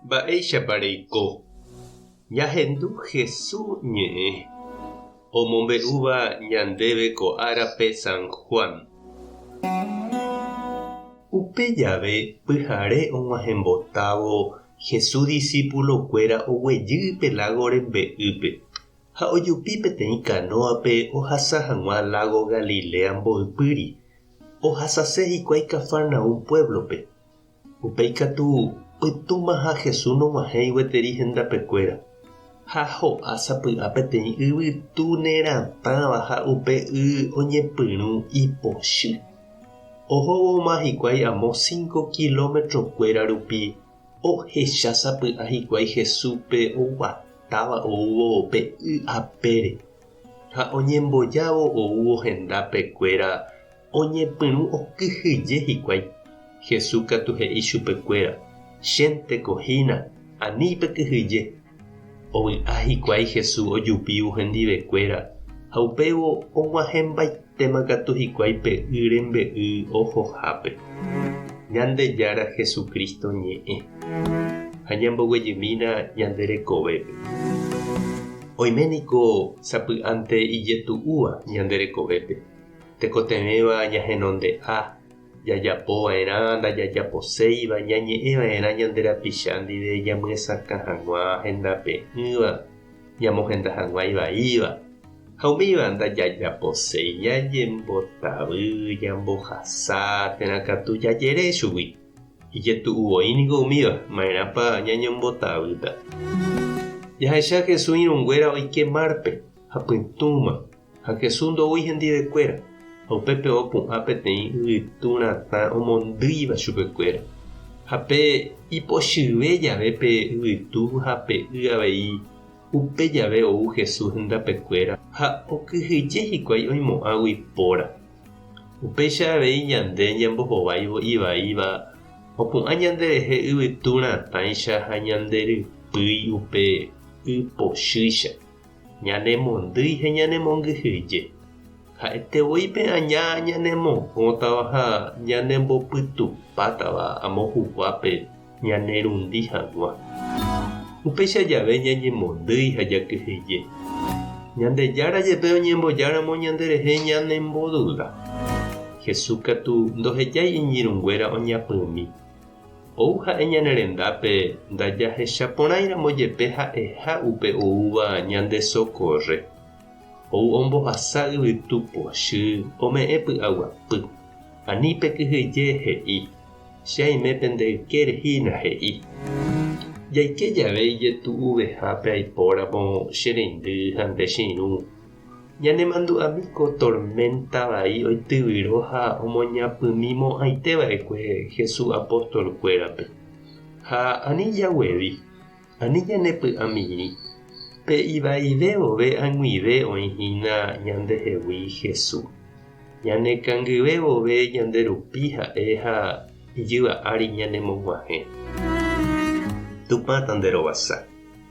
Mba'éichapa reiko ñahendu Jesús ñe'ẽ omombe'úva ñandéve ko árape San Juan? Upe jave pyhare og̃uahẽmbotávo Jesús disípulokuéra oguejy pe lágo rembe'ýpe ha ojupi peteĩ kanóape ohasa hag̃ua lágo Galilea mboypýri. Ohasase hikuái Cafarnaúm puévlope. Upéi katu, pytũmaha Jesús nog̃uahẽi gueteri hendapekuéra, ha ho'a sapy'a peteĩ yvytu neratãva ha upe y oñepyrũ ipochy. Ohóvoma hikuái amo cinco kilómetrokuéra rupi, ohecha sapy'a hikuái Jesúspe oguatáva oúvo pe y apére. Ha oñembojávo oúvo hendápe kuéra oñepyrũ okyhyje hikuái. Jesús katu he'i chupe kuéra, Chénteko hína, ani pekyhyje. Ovy'a hikuái Jesús ojupívo hendive kuéra, ha upévo og̃uahẽmbaite. Térã katu hikuái pe y rembe'y ohohápe, Ñandejára Jesucristo ñe'ẽ, ha ñamboguejymína ñande rekovépe. Oime niko sapy'ánte ijetu'úva ñande rekovépe, tekotevẽva ñahenonde'a, jajapo va'erã ndajajaposéiva, ñañe'ẽ va'erã ñande rapicha ndive ñamyesakã hag̃ua hendape'ỹva, ñamohenda hag̃ua ivaíva ha umíva ndajajaposéi ñañembotavy ñambohasa térã katu jajere chugui. Ijetu'u voi niko umíva, ma'erãpa ñañembotavýta. Jahecha Jesús irũnguéra oike márpe ha pytũma. Ha Jesús ndoúi hendivekuéra, ha upépe opu'ã peteĩ yvytu ratã omondýiva chupekuéra. Ha pe ipochyve jave pe yvytu ha pe y avei, upe jave ou Jesús hendapekuéra ha okyhyje hikuái oimo'ãgui póra. Upéicha avei ñande ñambohováivo ivaíva opu'ã ñanderehe yvytu ratãicha ha ñanderypýi upe y pochýicha. Ñanemondýi ha ñanemongyhyje. Ha'ete voi pe aña ñanemohõtava ha ñanembopytupátava amo huguápe ñanerundi hag̃ua. Upéicha jave ñañemondýi ha jakyhyje. Ñandejára jepe oñembojáramo ñanderehe ñanemboduda. Jesús katu ndohejái iñirũnguéra oñapymi Ou ha'e ñane rendápe ndajahecha porãiramo jepe ha'eha upe oúva ñande sokórre. Ou ombohasa yvytu pochy ome'ẽ py'aguapy. Ani pe kyhyje he'i, Che aime pende ykére hína, he'i. Jaike jave ijetu'uvehápe aipóramo che reindy ha nde che irũ, Ñanemandu'ámi ko torménta vai oityvyro ha omoñapymi mo'ãite va'ekue Jesús apóstolkuérape. Ha ani jaguevi, ani ñanepy'amirĩ, pe ivaive vove ag̃uive oĩ hína ñandehegui Jesús. Ñanekangyve vove ñande rupi ha'e ha ijyva ári ñanemog̃uahẽ. Tupã tanderovasa.